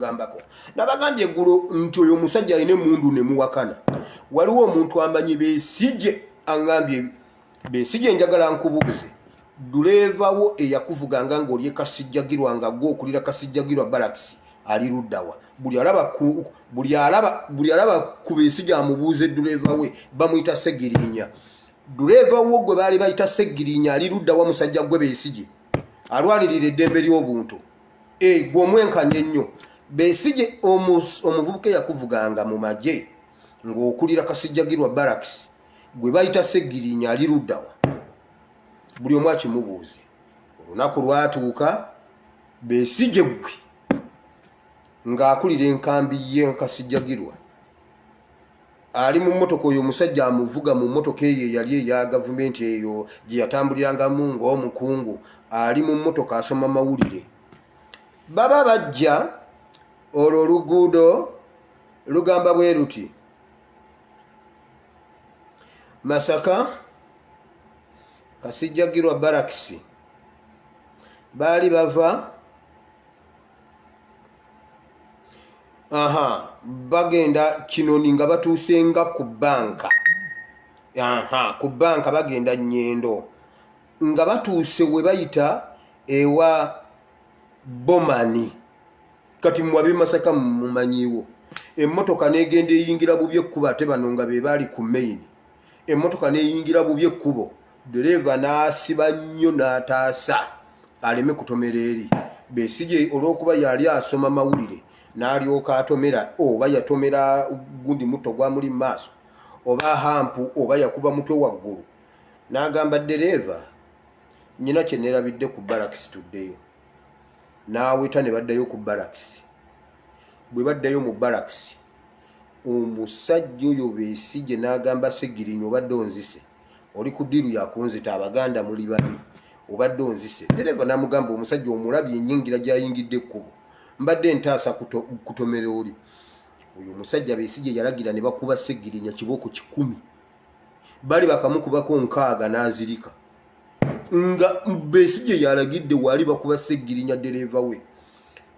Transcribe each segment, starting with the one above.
gambako nabagambye eggulo nti oyo omusajja alina emundu ne muwakana waliwo omuntu amanyi besije angambye besije njagala nkubuuze duleevawo eyakuvuganga ngaoli ekasijjagirwa nga gwe okulira kasijjagirwa balakisi ali luddawa buli alaba buli alaba buli alaba ku besije amubuuze duleeva we bamuyita segirinya duleeva wo gwe baali bayita segirinya ali luddawa musajja gwe besije alwanirira eddembe ly'obuntu eh, gwe omwenkanya ennyo besige omuvubuka eyakuvuganga mu magye ng'okulira kasijjagirwa baraks gwe bayita segirinya ali luddawa buli omu akimubuuze olunaku lwatuuka besige gwe ng'akulira enkambi ye nkasijjagirwa ali mu mmotoka oyo omusajja amuvuga mu mmotoka eyo eyali eya gavumenti eyo gye yatambulirangamu ng'omukungu ali mu mmotoka asoma mawulire baba bajja olwo oluguudo lugamba bwe luti masaka kasijjagirwa barakisi baali bava aha bagenda kinoni nga batuusenga ku banka aha ku banka bagenda nyendo nga batuuse we bayita ewa bomani kati muwabe masaka mumanyiwo emmotoka negenda eyingira bubi ekkubo ate bano nga be baali ku maini emmotoka neyingira bubi ekkubo ddereeva n'asiba nnyo n'ataasa aleme kutomera eri besigye olw'okuba yali asoma mawulire n'alyoka atomera oba yatomera gundi mutto gwamuli mu maaso oba hampu oba yakuba mutwe waggulu n'agamba ddereeva nnyina kye neerabidde ku balakisi tuddeyo n'aweta ne baddayo ku balakisi bwe baddayo mu balakisi omusajja oyo besigye n'agamba segirinya obadde onzise oli ku diiru yakunzita abaganda muli babi obadde onzise dereva namugamba omusajja omulabye enyingira gyayingidde ekkubo mbadde ntaasa kutomera oli oyo omusajja besije yalagira ne bakuba segirinya kibooko kikumi bali bakamukubako nkaaga n'azirika nga besije yalagidde waali bakuba segirinya dereva we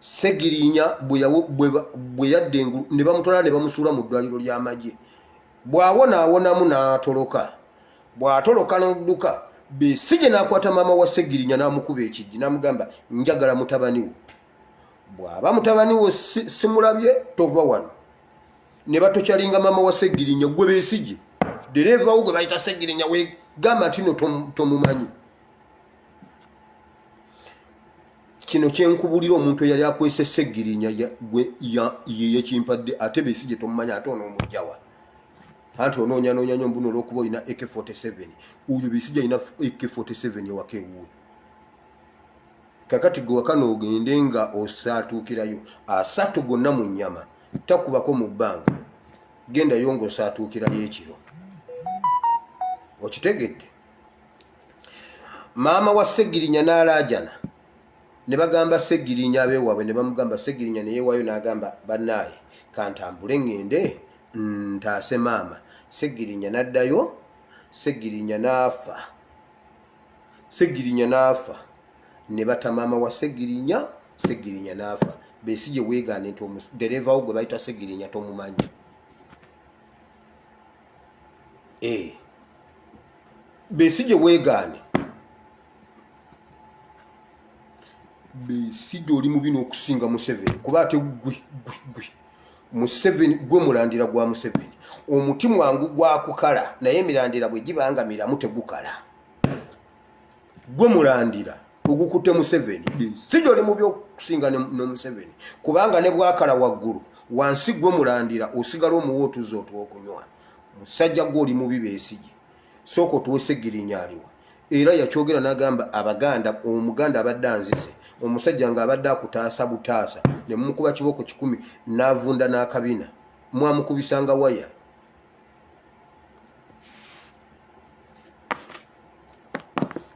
segirinya bwe yadde engulu ne bamutwala ne bamusuula mu ddwaliro ly'amagye bw'awona awonamu n'atoloka bw'atoloka n'odduka besigye n'akwata maama wa segirinya n'amukuba ekijji n'amugamba njagala mutabani wo bw'aba mutabani wo simulabye tova wano ne batokyalinga maama wa segirinya gwe besigye dereeva wo gwe bayita segirinya wegamba ntino tomumanyi to kino kyenkubulira omuntu eyali akwese segirinya yeyekimpadde ate besi gyetomumanya ate onomujawa anti ononyanoonya nyo mbuno olwokuba olina ak 47 oyo besi gyalina ak 47 ewaka ewuwe kakati gwe wakana ogende nga osaatuukirayo asatu gonna mu nyama takubako mu bbanga gendayo nga osaatuukirayo ekiro okitegedde maama wa segirinya n'alaajana ne bagamba segirinya abeewaabwe ne bamugamba segirinya neyeewaayo n'agamba bannaaye kantambule ŋŋende ntaase maama segirinya n'addayo segirinya n'afa segirinya n'afa ne bata maama wa segirinya segirinya n'afa besi gye weegaane nti dereeva wo gwe bayita segirinya tomumanyi eh. besigye wegaane besigye oli mubi n'okusinga museveni kuba ate gwe museveni gwe mulandira gwa museveni omuti mwangu gwakukala naye emirandira bwe gibanga miramu tegukala gwe mulandira ogukutte museveni si gyoli mu byokusinga ne museveni kubanga ne bwakala waggulu wansi gwe mulandira osigala omuwa otuzza otwokunywa musajja gwe oli mubi besigi sooka otuwesegirinya aliwa era yakyogera nagamba abaganda omuganda abadde anzise omusajja nga abadde akutaasa butaasa ne mumukuba kibooko kikumi n'avunda n'akabina mwamukubisanga waya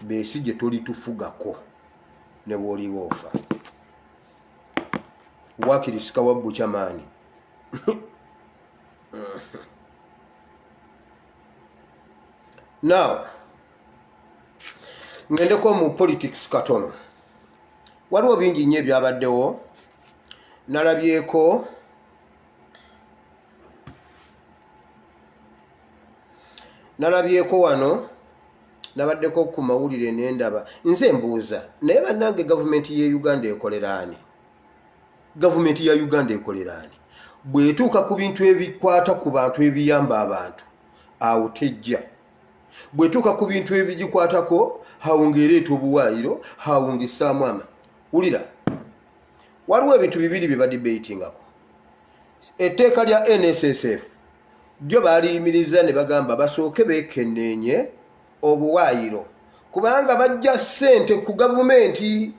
besi gye tolitufugako ne bwoliba ofa wakiri sikawabbuca maani now ngendeko mu politics katono waliwo bingi nnyo ebyabaddewo nalabyeko nalabyeko wano nabaddeko ku mawulire nendaba nze mbuuza naye bannange gavumenti ye uganda ekoleraani gavumenti ya uganda ekoleraani bwetuuka ku bintu ebikwata ku bantu ebiyamba abantu awo tejja bwetuuka ku bintu ebigikwatako hawunga ereeta obuwaayiro hawunga esaamu ama wulira waliwo ebintu bibiri bye badibatingako etteeka lya nssf lyo baaliyimiriza ne bagamba basooke beekenneenye obuwaayiro kubanga bajja ssente ku gavumenti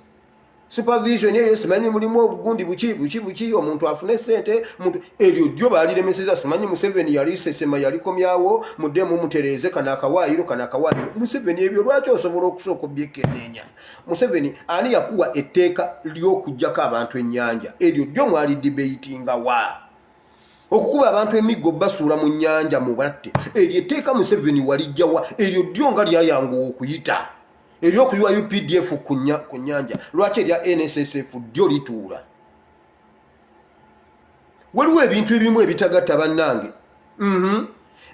supervision eyo simanyi mulimu obugundi buki buki buki omuntu afune ssente muntu eryo ddyo baaliremeseza simanyi museveni yali sesema yalikomyawo muddemu mutereeze kano akawaayiro kano akawaayiro museveni ebyo lwaki osobola okusooka obyekenneenya museveni ani yakuwa etteeka ly'okugyako abantu ennyanja eryo ddyo mwali dibeitinga wa okukuba abantu emiggo basuula mu nnyanja mu batte eryo etteeka museveni walijjawa eryo ddyo nga lyayanguwa okuyita eryokuyiwa updf ku nnyanja lwaki erya nssf ddyo lituula waliwo ebintu ebimu ebitagatta bannange mhm.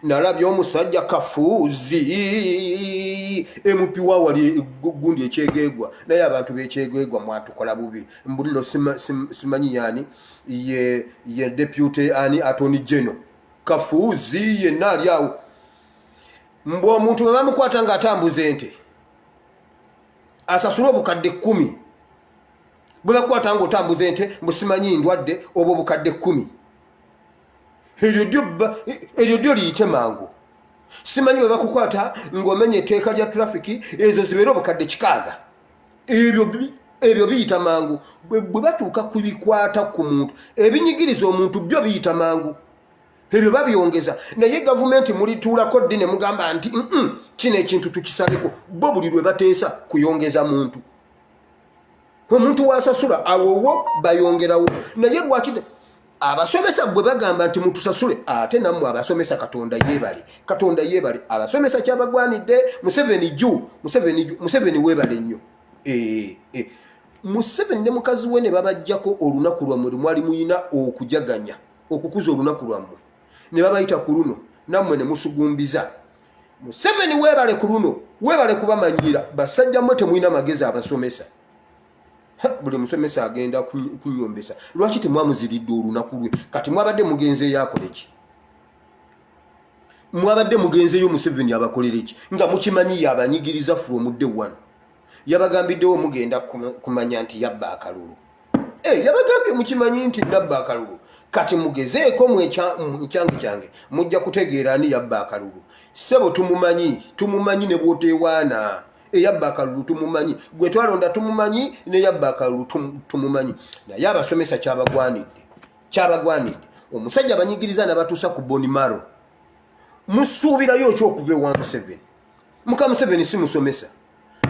nalabye omusajja kafuuzi emupiwa wali gundi ekyegegwa naye abantu bekyegegwa mwatukola bubi mbulino simanyi yani ye deputy ani atony geno kafuuzi yenna ali awo mbu omuntu bwebamukwata nga atambuza ente asasule obukadde kumi bwe bakwata nga otambuza ente mbusimanyi ndwadde obwo bukadde kkumi eryo dyo liyite mangu simanyi bwe bakukwata ng'omenya etteeka lya tulafiki ezo zibeere obukadde kikaaga ebyo biyita mangu bwe batuuka ku bikwata ku muntu ebinyigiriza omuntu byo biyita mangu ebyo babyongeza naye gavumenti mulituulako ddi ne mugamba nti kino ekintu tukisaleko bo buli lwe bateesa kuyongeza muntu omuntu wasasula awowo bayongerawo naye lwaki abasomesa gwe bagamba nti mutusasule ate nammwe abasomesa katonda yebale katonda yebale abasomesa kyabagwanidde museveni ju museveni webale nnyo eh, eh. museveni ne mukazi we ne babajjako olunaku lwammwe lwemwali muyina okujaganya okukuza olunaku lwammwe ne babayita ku luno nammwe ne musugumbiza museveni webale ku luno webale kubamanyiira basajja mwe temulina magezi abasomesa buli musomesa agenda kunyombesa lwaki temwamuziridde olunaku lwe kati mwabadde mugenzeeyo akoleki mwabadde mugenzeeyo museveni abakolereki nga mukimanyiyo abanyigiriza from day one yabagambiddewo mugenda kumanya nti yabba akalulu eh, yabagambye mukimanyi nti nabba akalulu kati mugezeeko mukyange kyange mujja kutegeera ani yabba akalulu sebo tumumanyi tumumanyi ne bwotewaana eyabba akalulu tumumanyi gwe twalonda tumumanyi neyabba akalulu tumumanyi naye abasomesa kyabagwanidde kyabagwanidde omusajja abanyigiriza nabatuusa ku bonimaro musuubirayo okyokuva ewa museveni muka museveni si musomesa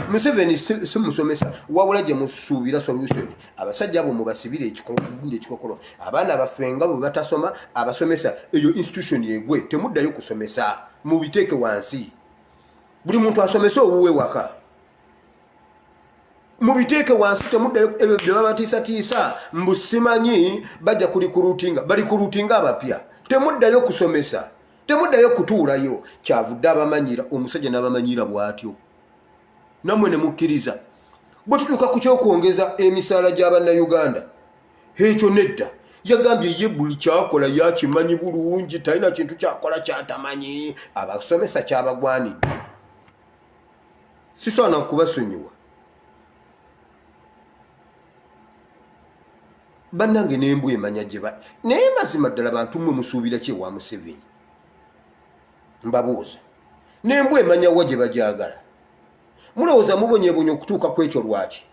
museveni si musomesa wabula gye musuubira solution abasajja abo mubasibire ekikunda ekikokolo abaana baffe nga bwe batasoma abasomesa eyo institution yegwe temuddayo kusomesa mubiteeke wansi buli muntu asomese owuwe waka mubiteeke wansi temuddayo ebyo bye babatiisatiisa mbusimanyi bajja kulikurutinga balikurutinga abapya temuddayo kusomesa temuddayo kutuulayo kyavudde abamanyira omusajja n'abamanyira bw'atyo nammwe ne mukkiriza bwe tutuuka ku ky'okwongeza emisaala gya bannayuganda ekyo nedda yagambye ye buli kyakola yakimanyi bulungi talina kintu kyakola kyatamanyi abasomesa kyabagwanidde sisoana kubasonyiwa bannange nembwa emanya gyeba naye mazima ddala bantu mwe musuubira ki ewa museveni mbabuuza nembwa emanya wa gye bagyagala mulowooza mubonyebonya okutuuka ku ekyo lwaki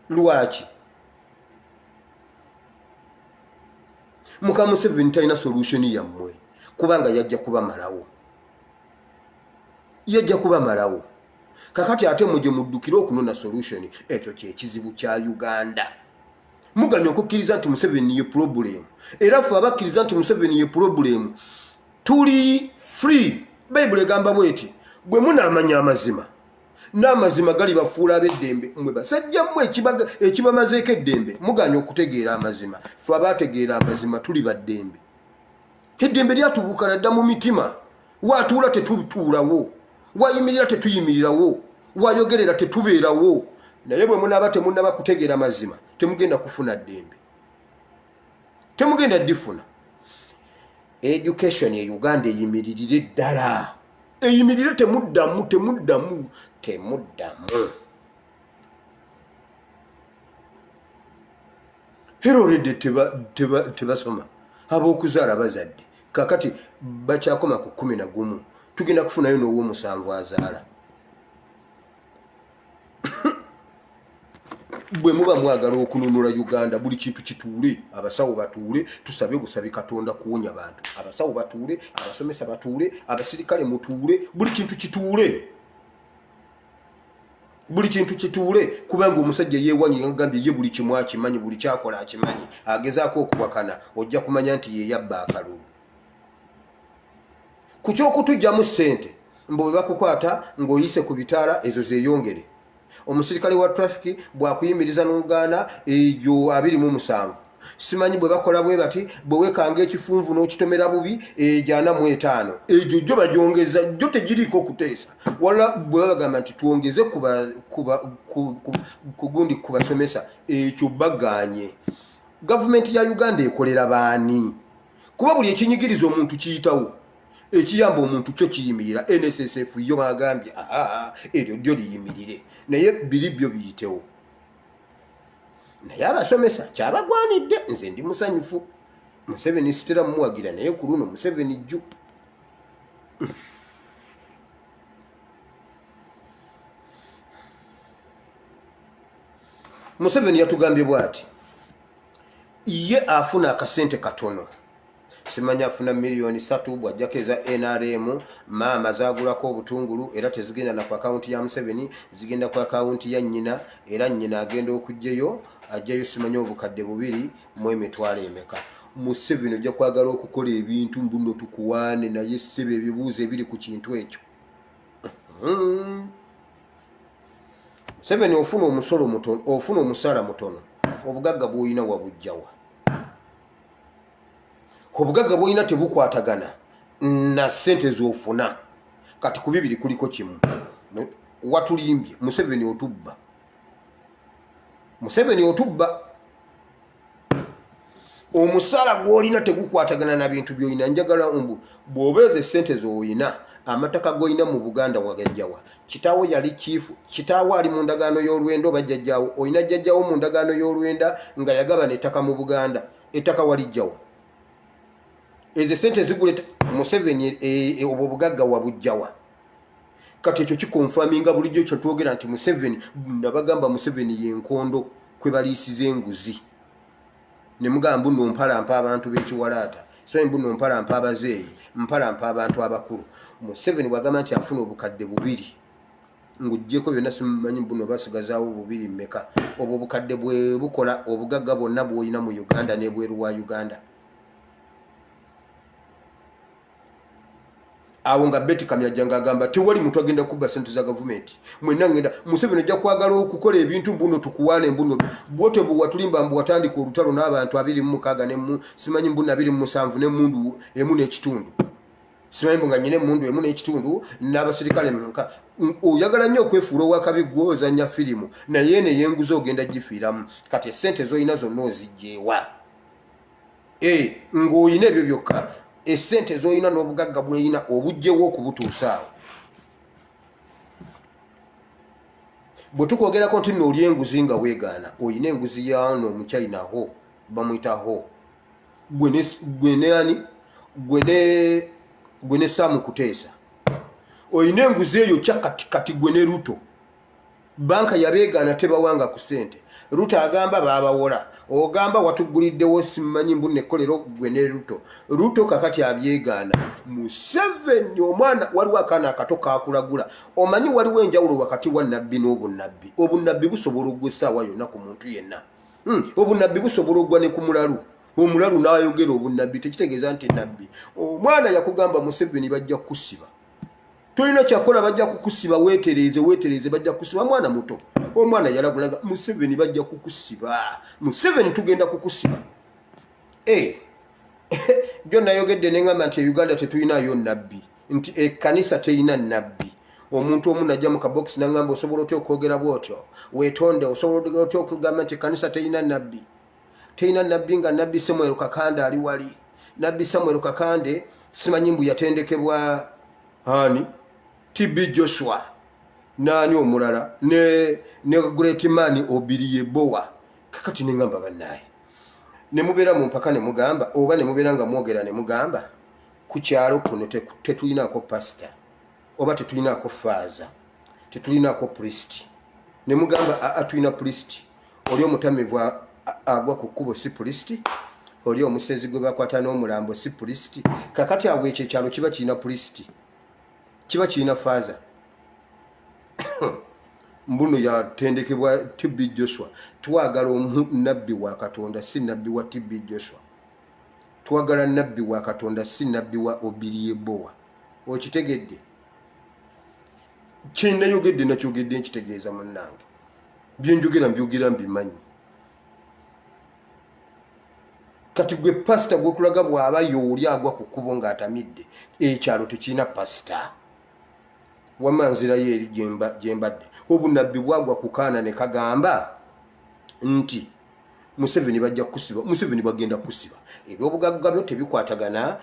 lwaki muka museveni talina solution yammwe kubanga yajja kubamalawo yajja kubamalawo kakati ate muje muddukire okunona solution ekyo kyekizibu kya uganda muganye okukkiriza nti museveni ye pulobulemu era fe abakkiriza nti museveni ye pulobulemu tuli free bayibuli egamba bweti bwe munaamanya amazima n'amazima gali bafuula ab'eddembe mwe basajja mmwe ekibamazeeko eddembe muganye okutegeera amazima fe abaategeera amazima tuli baddembe eddembe lyatubuuka nadda mu mitima watuula tetutuulawo wayimirira tetuyimirirawo wayogerera tetubeerawo naye bwe munaaba temunaba kutegeera mazima temugenda kufuna ddembe temugenda difuna education e uganda eyimiririre ddala eyimirire temuddamu temuddamu temuddamu era olwedde tebasoma ab'okuzaala bazadde kakati bakyakoma ku kumi na gumu tugenda kufunayo n'ow'omusanvu azaala bwe muba mwagala okununula uganda buli kintu kituule abasawo batuule tusabe busabi katonda kuwonya bantu abasawo batuule abasomesa batuule abasirikale mutuule buli kintu kituule buli kintu kituule kubanga omusajja yewanyi ngagambye ye buli kimu akimanyi buli kyakola akimanyi agezaako okuwakana ojja kumanya nti yeyabba akalulu ku kyokutujjamu ssente mbu webakukwata ng'oyise ku bitaala ezo zeyongere omusirikale wa trafiki bwakuyimiriza n'ogaana egyo abiri mu musanvu simanyi bwe bakola bwe bati bwe wekanga ekifunvu n'okitomera bubi egyana mu etaano egyo gyo bagyongeza gyo tegiriiko okuteesa wala bwe babagamba nti twongeze kugundi ku basomesa ekyo baganye gavumenti ya uganda ekolera baani kuba buli ekinyigiriza omuntu kiyitawo ekiyamba omuntu kyo kiyimirira nssf yo bagambye eryo dyo liyimirire naye biri byo biyitewo naye abasomesa kyabagwanidde nze ndi musanyufu museveni sitera mumuwagira naye ku luno museveni jju museveni yatugambye bwati ye afuna akasente katono simanya afuna miliyoni satu bwajjako eza nrm maama zagulako obutungulu era tezigenda na ku akawunti ya museveni zigenda ku akawunti ya nyina era nyina agenda okugjeyo ajjayo simanya obukadde bubiri mu emitwalo emeka museveni ojja kwagala okukola ebintu mbuno tukuwaane naye seba ebibuuzo ebiri ku kintu ekyo hmm. museveni ofuna omusolo mutono ofuna omusala mutono obugagga bwolina wabujjawa obugagga bwolina tebukwatagana na sente zofuna kati ku bibiri kuliko kimu watulimbye museveni otubba museveni otubba omusaala gwolina tegukwatagana na bintu byolina njagala mbu bwobeeza esente zolina amataka golina mu buganda wagajjawa kitaawo yali kiifu kitaawo ali mu ndagaano y'olwenda oba jjajjaawo olina jjajjaawo mu ndagaano y'olwenda nga yagabana ettaka mu buganda ettaka walijjawo ezo esente zigula museveni e, e, obwo obugagga wabujjawa kati ekyo kikonfaminga bulijjo ekyo twogera nti museveni nabagamba museveni yenkondo kwe baliisiza enguzi ne mugamba mbu nno mpalampa abantu b'ekiwalaata so mbu nno mpalampa abazeeyi mpalampa abantu abakulu museveni bwagamba nti afuna obukadde bubiri ng'ogyeko byonna simumanyi mbu no basigazaawo bubiri mmeka obwo obukadde bwe bukola obugagga bwonna bwolina mu uganda n'ebweru wa uganda awo nga beti kamyaja nga agamba tewali muntu agenda kubba sente za gavumenti mwena ngenda museveni ojja kwagala okukola ebintu mbuno tukuwaana embuno bwote bwe watulimba mbu watandika olutalo n'abantu abiri mu mukaaga nemu simanyi mbuno abiri mu musanvu n'emundu emu n'ekitundu simanyi mbu nga nyina emundu emu n'ekitundu n'abasirikale muka oyagala nnyo okwefuula owakabi gwe ozannya firimu naye neyenguza ogenda gifiiramu kati esente zolina zonna ozijjeewa eh, ng'olina ebyo byokka esente zolina n'obugagga bwolina obugjewo okubutuusaawo bwe tukwogerako nti nooli enguzi nga weegaana olina enguzi yano omuchina ho bamwita ho gweneani gwe ne saamu kuteesa olina enguzi eyo kyakati kati gwe ne luto banka yabeegaana tebawanga ku sente ruto agamba baabawola ogamba watugguliddewo simanyi mbu nekkolero gwe ne ruto ruto kakati abyegaana museveni omwana waliwo akaana akato kakulagula omanyi waliwo enjawulo wakati wa nabbi n'obunnabbi obunnabbi busobola ogwa essaawa yonna ku muntu yenna hmm, obunnabbi busobola ogwa ne ku mulalu omulalu n'ayogera obunnabbi tekitegeeza nti nabbi omwana yakugamba museveni bajja kukusiba tolina kyakola bajja kukusiba wetereeze wetereeze bajja kukusiba mwana muto omwana yalagulaga museveni bajja kukusiba museveni tugenda kukusiba eh. jo nayogedde neŋamba nti euganda tetulinayo nabbi nti ekanisa terina nabbi omuntu omu najja mu kabokisi naŋamba osobola otya okwogera bwotyo wetonde osobola otya okugamba nti ekanisa terina nabbi teyina nabbi nga nabbi samuel kakande ali wali nabbi samuel kakande simanyi mbu yatendekebwa ani tb joshua naani omulala ne, ne great man obiri yebowa kakati nengamba banaye nemubeera mu mpaka nemugamba oba nemubeera nga mwogera nemugamba ku kyalo kuno tetulinako pasita oba tetulinaako faaza tetulinaako pulisiti ne mugamba aa tulina pulisiti oli omutamivu agwa ku kkubo si pulisiti oli omusezi gwe bakwata n'omulambo si pulisiti kakati awo ekyo ekyalo kiba kirina pulisiti kiba kirina faaza mbuno yatendekebwa tb joshua twagala nabbi wa katonda si nabbi wa tb joshua twagala nabbi wa katonda si nabbi wa obiriebowa okitegedde kyenayogedde nakyogedde nkitegeeza munange byenjogera mbyogera mbimanyi kati gwe pasita gwotulaga bwaba yooli agwa ku kkubo ng'atamidde ekyalo tekirina pasita wama nzirayo eri gyembadde obunabbi bwagwa kukaana ne kagamba nti museveni bajja kusiba museveni bagenda kusiba ebyobugagga byo tebikwatagana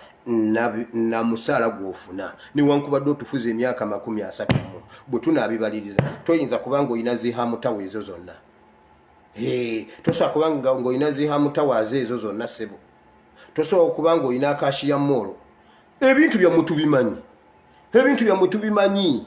na musaala gwofuna newankubadde otufuza emyaka makumi asatu mu bwe tunaabibaliriza toyinza kubanga olina zihamutawa ezo zonna tosobola kubanga ngaolina zihamutawa aze ezo zonna sebo tosobola kubanga olina akashiya moolo ebintu byamutubimanyi ebintu byamutubimanyi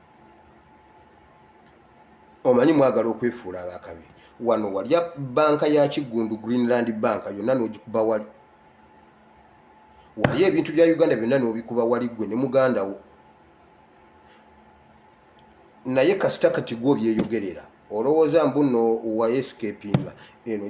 omanyi mwagala okwefuula abakabi wano walya banka ya kiggundu greenland banka yonna n'ogikuba wali walya ebintu bya uganda byonna n'obikuba wali ggwe ne muganda wo naye kasita kati gwo byeyogerera olowooza mbuno wayescapinga eno